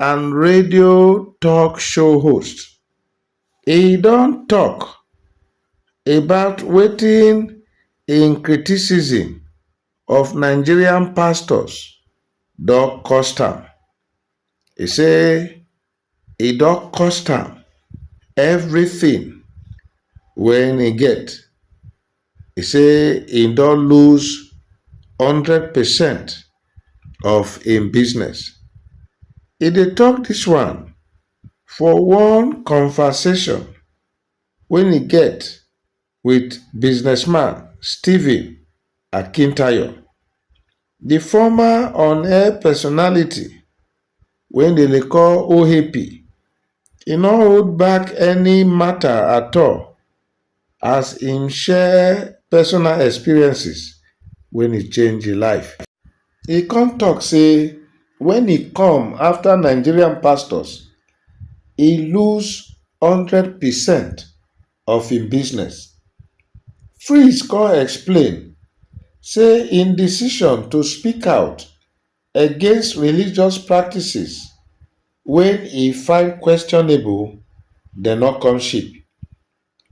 and radio talk show host, e don talk about wetin im criticism of Nigerian pastors don cost am. E say e don cost am everything wey e get. E say im don lose hundred percent of im business. E dey tok dis one for one conversation wen e get wit businessman Stephen Akintayo. Di former on-air personality wey dem dey call OAP, e no hold back any mata at all as im share personal experiences wen e change im life. E come tok sey wen e come after Nigerian pastors, e lose hundred percent of im business. Fritz come explain say im decision to speak out against religious practices wey e find questionable dey no come cheap.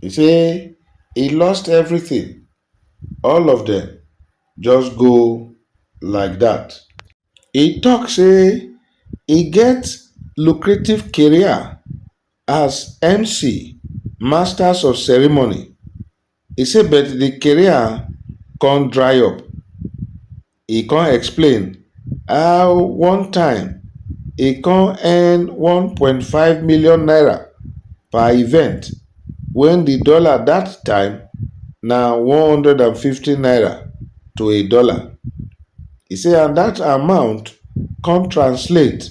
E say e lost everything, all of dem just go like dat. E tok say e get lucrative career As MC, Masters of Ceremony, e say but the career come dry up. E come explain how one time e come earn one point five million naira per event when the dollar that time na one hundred and fifty naira to a dollar. E say and that amount come translate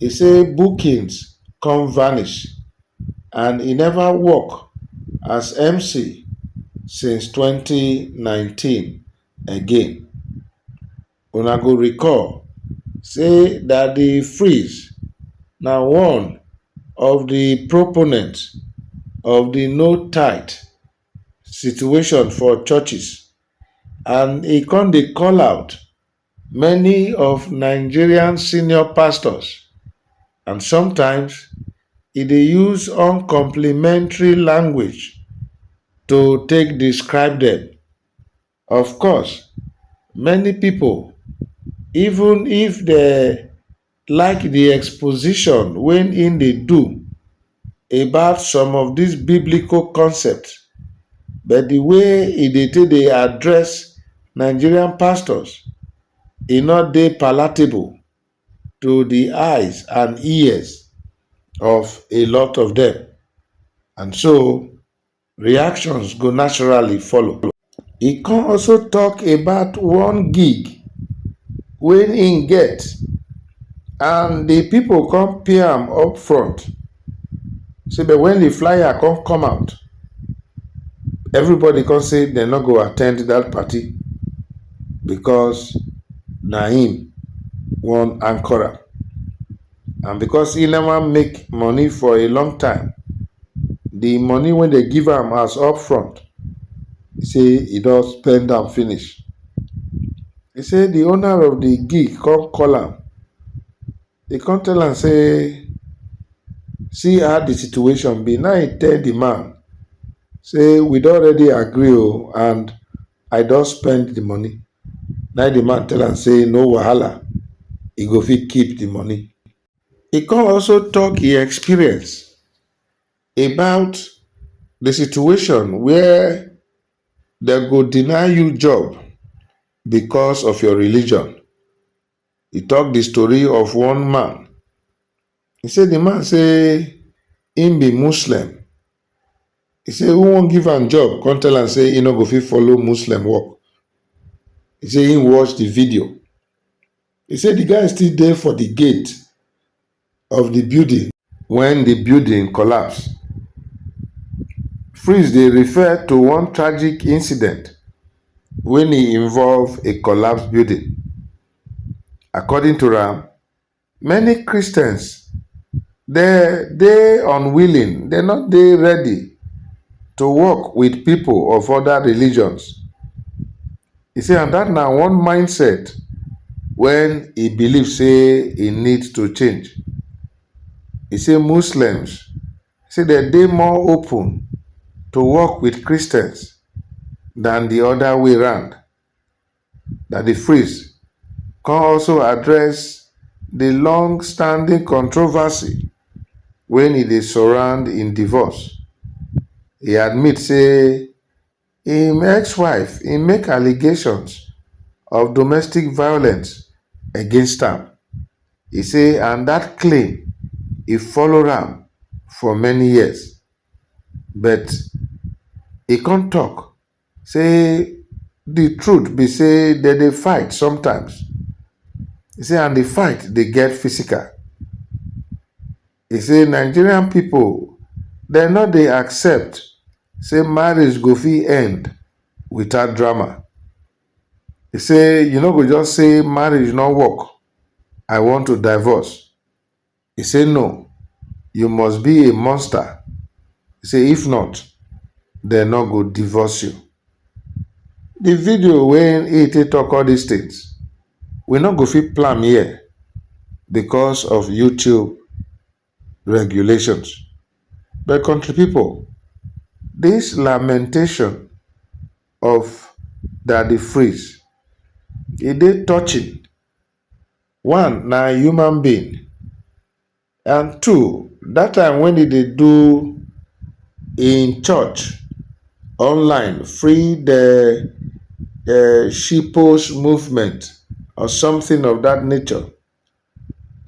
e say bookings come vanish and e neva work as mc since twenty nineteen again. Una go recall say Daddy Freeze na one of di proponent of di no tithe situation for churches and e come dey call out Many of Nigerian senior pastors and sometimes e dey use uncomplimentary language to take describe dem. Of course, many pipu even if dem like di exposition wey im dey do about some of dis biblical concept but di way e dey take dey address Nigerian pastors e no dey palatable to di eyes and ears of a lot of dem and so reactions go naturally follow. E come also talk about one gig wey im get and the people come pay am up front say but when the flyer come come out everybody come say dem no go attend that party because na im wan anchor am. and because he never make money for a long time, the money when they give him as upfront, he say he don spend am finish. He say the owner of the gig come call am. He come tell am say, see how the situation be. Now he tell the man say we don already agree o and I don spend the money. Na the man tell am say no wahala, e go fit keep the money. He come also talk him experience about the situation where dem go deny you job because of your religion. e talk the story of one man e say the man say him be Muslim e say who wan give am job come tell am say he no go fit follow Muslim work e say him watch the video e say the guy still dey for the gate of di building wen di building collapse. Freeze dey refer to one tragic incident wen e involve a collapsed building. According to am, many Christians dey dey unwilling, dey no dey ready to work wit pipo of oda religions. E say and dat na one mindset wen e believe say e need to change. E say Muslims say dem dey more open to work wit Christians dan di oda way round. Na di Fris come also address di long standing controversy wen e dey surround im divorce. E admit say. im ex-wife im make allegations of domestic violence against am, e say and dat claim e follow am for many years but e come tok say di truth be say dem dey fight sometimes, e say and di fight dey get physical. E say Nigerian pipo dem no dey accept say marriage go fit end without drama. E say you no go just say marriage no work, I want to divorce. E say no, you must be a monster, e say if not, dem no go divorce you. Di video wey e take tok all dis tins. we no go fit plan here because of YouTube regulations. But country people, this lamentation of Daddy Freeze, e dey touching. One, na human being. And two, that time when he dey do him church online, free the um shitpost movement or something of that nature,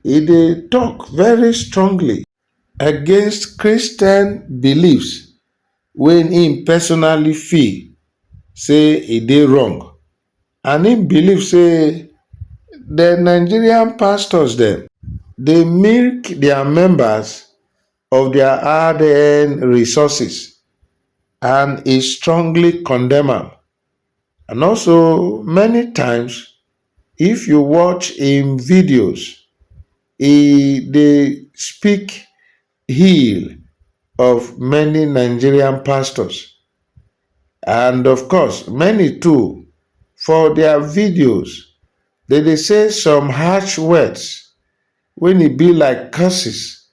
he dey talk very strongly against Christian beliefs wey him personally feel say e dey wrong. and im believe say de nigerian pastors dem dey milk dia members of dia hard-earned resources and e strongly condemn am and also many times if you watch im videos e dey speak hill of many Nigerian pastors and of course many too for their videos they dey say some harsh words when e be like curses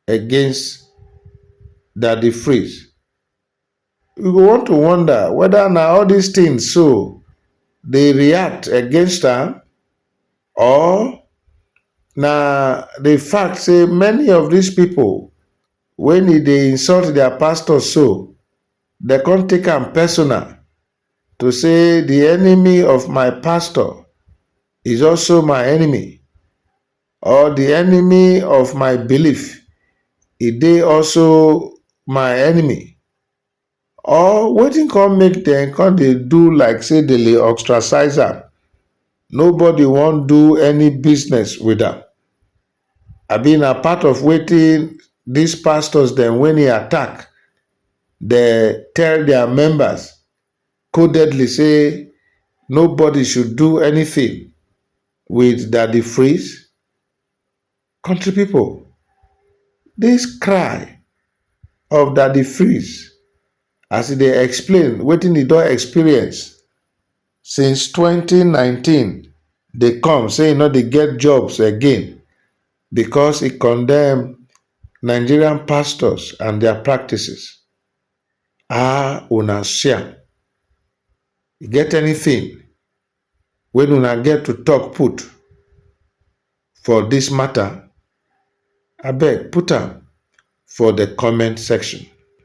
against Daddy Freeze. We go want to wonder weda na all dis tins so dey react against am or na di fact say many of dis pipo wen e dey insult dia pastors so dem come take am personal to say di enemy of my pastor is also my enemy. Or di enemy of my belief, e dey also my enemy? Or wetin come make dem come dey do like say dem dey ostracize am, nobody wan do any business with am? Abi na part of wetin dis pastors dem wey e attack dey tell dia members codedly say nobody should do anything with Daddy Freeze? Country people, this cry of Daddy Freeze as e dey explain wetin e don experience since 2019 dey come say e no dey get jobs again because e condemn Nigerian pastors and their practices. Ah una sia, e get anything wey una get to talk put for this matter abeg put am for the comment section.